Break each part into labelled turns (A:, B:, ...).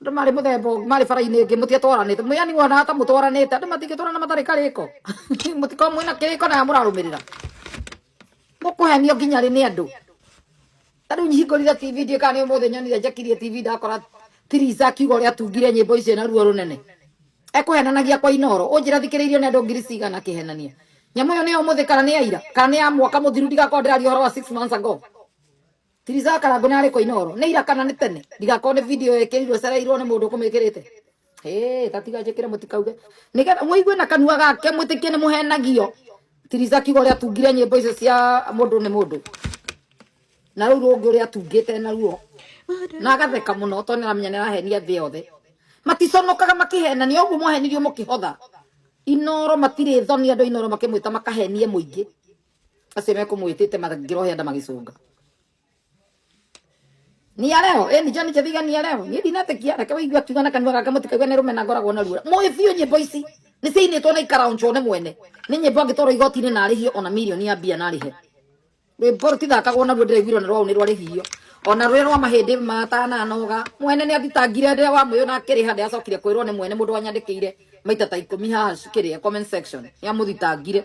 A: Andũ marĩ mũthemba ũngĩ marĩ bara-inĩ ĩngĩ mũtiatwaranĩte mwĩani wona ta mũtwaranĩte andũ matingĩtwarana matarĩ karĩko mũtikorwo mwĩna kĩrĩko naya mũrarũmĩrĩra mũkũhenio nginya rĩ nĩ andũ ta rĩu hingũrire tv ndiĩ kana nĩ ũmũthĩ nyonire njakirie tv ndakora tirica akiuga ũrĩa atungire nyĩmbo icio na ruo rũnene ekũhenanagia kwa inoro ũnjĩra thikĩrĩirio nĩ andũ ngiri cigana kĩhenania nyamũ ĩyo nĩyo mũthĩ kana nĩ aira kana nĩ ya mwaka mũthiru ndigakorwo ndĩraria ũhoro wa six months ago Tiriza Karangũ na arĩkũ Inooro nĩ ira kana nĩ tene ndigakorwo nĩ video ĩkĩrirwo cereirwo nĩ mũndũ ũkũmĩkĩrĩte Hey, tatiga njĩkĩre mũtikauge nĩgetha mũigue na kanua gake mwĩtĩkie nĩ mũhenagio Tiriza kiugo ũrĩa atungire nyĩmbo icio cia mũndũ nĩ mũndũ na rĩu rũngĩ ũrĩa atungĩte naruo na agatheka mũno tondũ nĩaramenya nĩarahenia thĩ yothe maticonokaga makĩhenania ũguo mwahenirio mũkĩhotha Inooro matirĩ thoni andũ a Inooro makĩmwĩta makahenie mũingĩ acio mekumwitite mathingirwo henda magicunga nia leo eh, ni jani jathiga nia leo ni ndinatikia reke waigua kiuga na kanua gaka mutikaigua ni rumena ngoragwo na ruo muĩ biũ nyĩmbo ici nĩ ciainĩtwo na ikaraunjwo nĩ mwene nĩ nyĩmbo angĩtwarwo igoti-inĩ na arĩhio ona mirioni ya mbia na arĩhe rwĩmbo rũtithakagwo naruo ndĩraiguirwo nĩ rwau nĩ rwarĩhio ona rũrĩa rwa mahĩndĩ matananoga mwene nĩ athitangire ndĩrĩa wa mwĩyo na akĩrĩha ndĩacokire kwĩrwo nĩ mwene mũndũ wanyandĩkĩire maita ta ikũmi haha cikĩrĩa comment section nĩ amũthitangire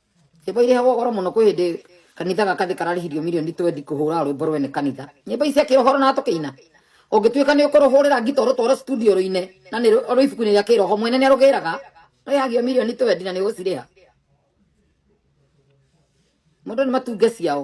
A: Nyĩmbo irĩhagwo goro mũno kwĩ hĩndĩ kanitha gaka thĩ kararĩhirio mirioni twendi kũhũra rwĩmbo rwene kanitha nyĩmbo ici cia kĩroho na tũkĩina ũngĩtuĩka nĩ ũkũrũhũrĩra ngita ũrũtware studio rũine na nĩ rũ- rwĩ ibuku-inĩ rĩa kĩroho mwene nĩ arũgĩraga rũrĩhagio mirioni twendi na nĩ ũgũcirĩha mũndũ nĩ matunge ciao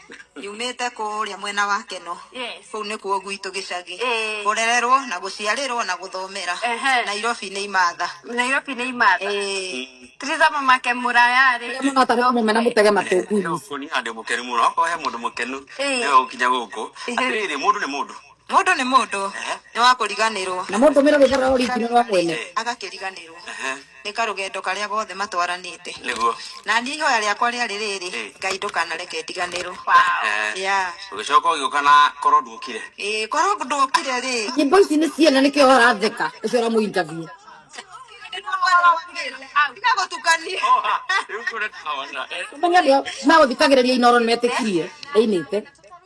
B: Nyumĩte kũrĩa mwena wa Keno. Yes. Kũu nĩkuo gwitũ gĩcagĩ. Ĩĩ. Kũrererwo na gũciarĩrwo na gũthomera. Ehe. Nairobi nĩ imatha. Nairobi nĩ imatha. Ĩĩ.
C: Triza mamake mũrayarĩ. mũno ta rĩu mũmena
A: mũtege matũ ngui. Gũkũ nĩ handũ mũkenu
D: mũno. Okorwo he mũndũ mũkenu Ĩĩ. nĩwe ũgũkinya gũkũ. Atĩrĩrĩ, mũndũ nĩ mũndũ. Mũndũ nĩ mũndũ
B: nĩ wa kũriganĩrwo. Na mũndũ mĩra rũthara
A: oringi nĩ rwa mwene. Agakĩriganĩrwo
B: nĩ karũgendo karĩa gothe matwaranĩte. Nĩguo. Na niĩ
D: ihoya rĩakwa
B: rĩarĩ rĩrĩ, Ngai ndũkanareke ndiganĩrwo. Yeah.
D: Ũgĩcoka ũgĩũka na korwo ndũkire. Ĩĩ korwo ndũkire
B: rĩ. Nyimbo ici nĩ ciana
A: nĩkĩo aratheka ũcio ũramũ interview. Tiga gũtukania. Rĩu kũrĩ tawa na. Ũmenye andũ aya megũthikagĩrĩria Inooro nĩmetĩkirie ĩinĩte.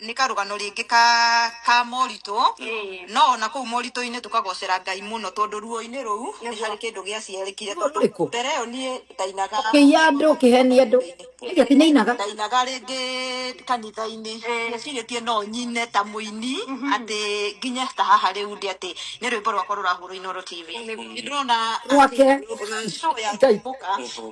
B: nĩ karũgano rĩngĩ ka ka moritũ Ĩĩ. no ona kũu moritũ-inĩ tũkagocera ngai mũno tondũ ruo-inĩ rũu nĩ harĩ kĩndũ gĩaciarĩkire Ruo rũrĩkũ? tondũ mbere ĩyo niĩ ndainaga ũkĩiya andũ ũkĩhenia
A: andũ nĩkĩ tinainaga ndainaga rĩngĩ
B: kanitha-inĩ Ĩĩ. ndecirĩtie no nyine ta mũini atĩ nginye ta haha rĩu ndĩ atĩ nĩ rwĩmbo rwakwa rũrahũrwo inoro tv Nĩguo. nĩ ndĩrona Rwake.
A: Ngai. Ngai.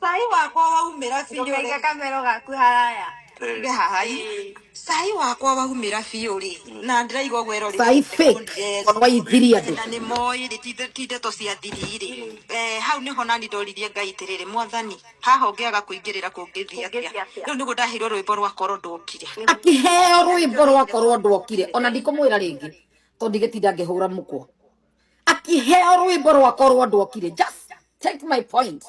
B: Cai wakwa waumĩra biũ Ndũkaige rĩ. kamero
C: gaku haraya. Ige haha ii. Cai
B: wakwa waumĩra biũ rĩ. Na ndĩraigua ũguo ĩrori. Cai fake. Yes.
A: Korwa ithiria andũ. Na nĩ moĩ rĩ ti
B: ti ndeto cia thiri rĩ. Eh, hau nĩho nani ndoririe Ngai atĩrĩrĩ, Mwathani, haha ũngĩaga kũingĩrĩra kũngĩthiĩ atĩa? Kũngĩthiĩ atĩa? Rĩu nĩguo ndaheirwo rwĩmbo rwa korwo ndokire. Akĩheo
A: rwĩmbo rwa korwo ndokire. Ona ndikũmwĩra rĩngĩ tondũ ndigĩtinda ngĩhũra mũkwa. akĩheo rwĩmbo rwakwa rwa ndokire just take my point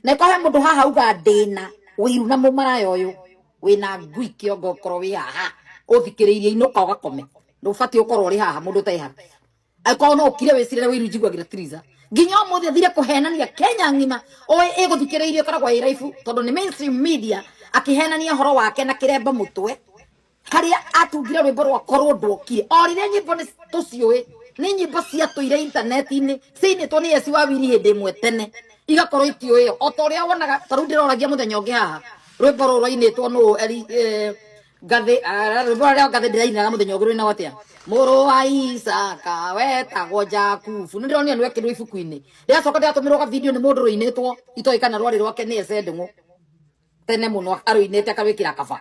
A: na ĩkorwo he mũndũ haha uga ndĩna wĩiru na mũmaraya ũyũ wĩna ngui kĩongo ũkorwo wĩ haha ũthikĩrĩirie inũka ũgakome ndũbatiĩ ũkorwo ũrĩ haha mũndũ ũtarĩ haha angĩkorwo no ũkire wĩcirĩre wĩiru njiguagĩra tiriza nginya ũmũthĩ athire kũhenania kenya ng'ima ũĩ ĩgũthikĩrĩirie ĩkoragwo ĩ raibu tondũ nĩ mainstream media akĩhenania ũhoro wake na kĩremba mũtwe haria atungire rwimbo rwa korwo ndokire o riria nyimbo ni tuciui ni nyimbo cia tuire intaneti-ini ciinitwo ni esi wa wiri hindi imwe tene igakorwo itiui o ta uria wonaga ta riu ndiroragia muthenya ungi haha rwimbo ruru rwainitwo nu eri eh, ngathĩ ah, rwimbo rũrĩa ngathĩ ndĩrainaga mũthenya ũngĩ rwĩna watia mũrũ wa isaka wetagwo jakubu nĩ ndĩronire nĩwekĩrwo ibuku-inĩ rĩacoka ndĩratũmĩrwo ka video nĩ mũndũ rũinĩtwo itoĩ kana rwarĩ rwake nĩ ecendeng'ũ tene mũno arũinĩte akarwĩkĩra kaba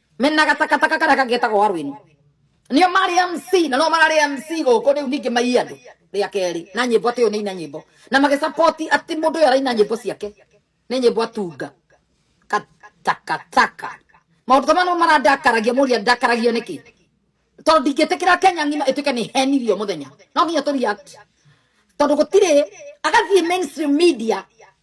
A: mena gatakataka karĩa kangĩ getagwo warwini nio marĩ mc na no mararĩ mc gũkũ rĩu ningĩ maiye andũ rĩa kerĩ na nyĩmbo atĩ ũyũ nĩ ina nyĩmbo na magĩcapoti atĩ mũndũ ũyũ araina nyĩmbo ciake nĩ nyĩmbo atunga katakataka maũndũ ta manũ marandakaragia mũria ndakaragio nĩkĩ tondũ ndingĩtĩkĩra kenya ng'ima ĩtuĩke nĩ henirio mũthenya no nginya tũ react tondũ gũtirĩ agathiĩ mainstream media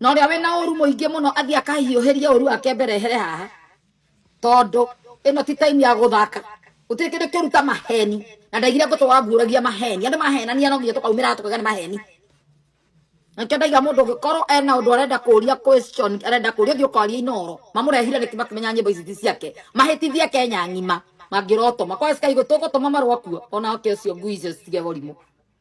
A: na ũrĩa wĩna ũru mũingĩ mũno athiĩ akahiũhĩrie ũru wake mbere ehere haha tondũ ĩno ti time ya gũthaka gũtirĩ kĩndũ kĩũru ta maheni na ndaigire ngũtũ wanguũragia maheni andũ mahenania no nginya tũkaumĩra tũkauga nĩ maheni nakĩo ndaiga mũndũ ũngĩkorwo ena ũndũ arenda kũria question arenda kũria thiĩ ũkaria inoro mamũrehire nĩkĩ makĩmenya nyĩmbo ici ti ciake mahĩtithie kenya ng'ima mangĩrotoma kwa sky gũtũgũtũma marwa kuo ona oke ũcio ngui icio citige gũrimũ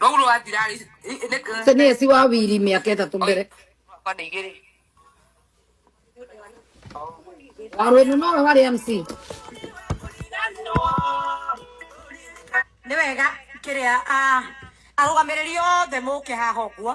E: Rau rwa thirarĩ nĩ Sasa ni esi
A: wa wili miaka itatu mbere kwa nĩ
E: igĩrĩ
A: warwenu nowe wari mc nä
B: wega kä rä a arå gamä rä ri othe må ke haha å guo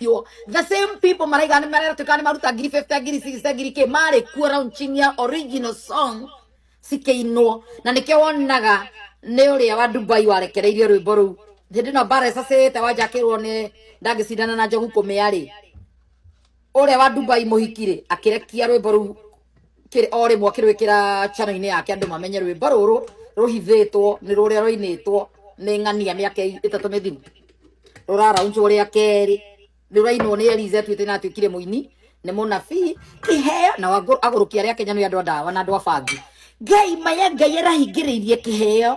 A: Yo, the same people maraiga nĩ maratuĩka nĩ maruta ngiri 50 ngiri 60 ngiri kĩ marĩ kuo launching ya original song cikĩinwo na nĩkĩo wonaga nĩ ũrĩa wa Dubai warekereirie rwĩmbo rũu hĩndĩ ĩno mbara ĩcacĩte wanjakĩrwo nĩ ndangĩcindana na njogu kũmĩa rĩ ũrĩa wa Dubai mũhikirĩ akĩrekia rwĩmbo rũu kiri o rimwe kirwikira channel ini yake andu mamenye rwimbo ruru ruhithitwo ni ruria ruinitwo ni ng'ania miaka itatu mithiru ruraraunjwo ria keri rurainwo ni elize twite na twikire muini ni munabii iheo na wagu- agurukia ria kenya ni andu a ndawa na andu a bangi ngai maya ngai arahingiriirie kiheo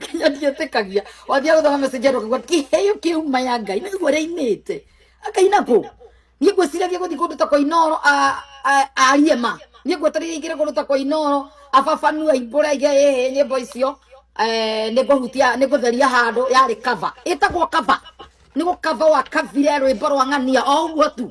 A: nginya ndietĩkagia wathiĩ gũthoma message andũ akaigua kĩheo kĩuma ya ngai nĩ guo rĩinĩte akaina kũ niĩ ngwĩciragia gũthiĩ kũndũ ta kwa inoro a- a- arie ma niĩ ngwetereire ingĩre kũndũ ta kwa inoro ababanu aimbũre aige ĩhĩ nyĩmbo icio eh, nĩ ngũhutia nĩ ngũtheria handũ yarĩ kava ĩtagwo kava nĩ gũkava wa kavire rwĩmbo rwa ng'ania o ũguo tu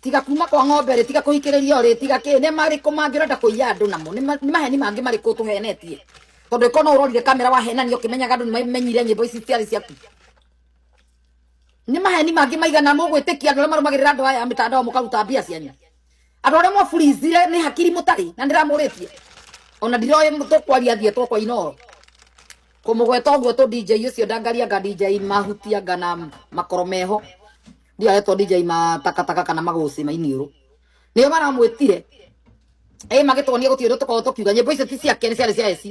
A: tiga kuma kwa ng'ombe rĩ tiga kũhikĩrĩria rĩ tiga kĩ nĩ marĩkũ mangĩ ũrenda kũiya andũ namo nĩ ma- nĩ maheni mangĩ marĩkũ tũhenetie tondũ ĩkorwo no ũrorire kamera wahenania ũkĩmenyaga andũ nĩ mamenyire nyĩmbo ici ciarĩ ciaku nĩ maheni mangĩ maigana mũgwĩtĩkia andũ arĩa marũmagĩrĩra andũ aya a mĩtandao mũkaruta mbia cianyu andũ arĩa mwaburizire nĩ hakiri mũtarĩ na ndĩramũrĩtie ona ndiroĩ tũkwaria thiĩ twakwa inoro kũmũgweta ũguo tũ DJ ũcio ndangaria nga DJ mahutia nga na makoro meho ndiaretwo DJ matakataka kana maguci ma iniũrũ nĩo maramwĩtire ĩ magĩtwonia gũtirĩ ũndũ tũkorwo tũkiuga nyĩmbo icio ti ciake nĩ ciarĩ cia eci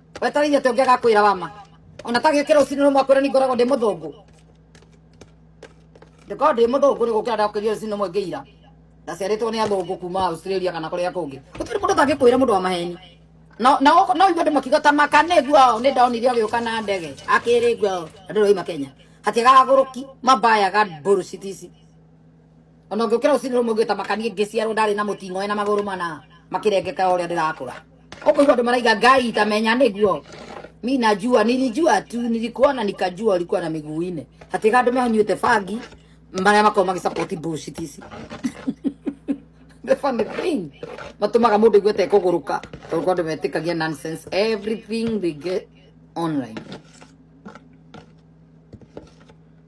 A: wetarĩirie atĩ ũngĩ agakwĩra wama ona tagĩũkĩra ũcini rũmwe akwĩra ningoragwo ndĩ mũthũngũ ndĩkoragwo ndĩ mũthũngũ nĩ gũkĩra ndakĩria ũcini rũmwe ngĩira ndaciarĩtwo nĩ athũngũ kuma australia kana kũrĩa kũngĩ gũtirĩ mũndũ tangĩkwĩra mũndũ wa maheni no no no inyuĩ andũ makiuga ta maka nĩ guo nĩ ndonire agĩũka na ndege akĩrĩ guo andũ rĩu makenya hatiagaga gũrũki mabayaga mbũrũ citici ona ngĩũkĩra rũcinĩ rũmwe ngĩta makanie ngĩciarwo ndarĩ na mũting'oe na magũrũ mana makĩrengeka ũrĩa ndĩrakũra ũkũigua andũ maraiga ngai itamenya nĩguo mi najua nilijua tu nilikuwa na nikajua ulikuwa na miguu ine hatiga andũ mehonyuĩte bangi marĩa makorwo magĩsapoti bullshit ici the funny thing matumaga mundu igwete kuguruka tondu kwa andu metikagia nonsense everything they get online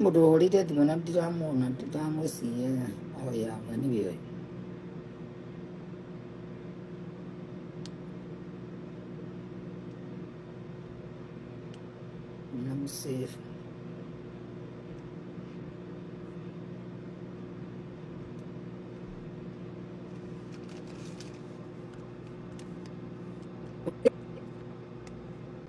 A: Mũndũ wahũrĩire thimũ na ndiramuona, ndiramwĩciria oya anga nĩwe ũyũ. Na mũsave.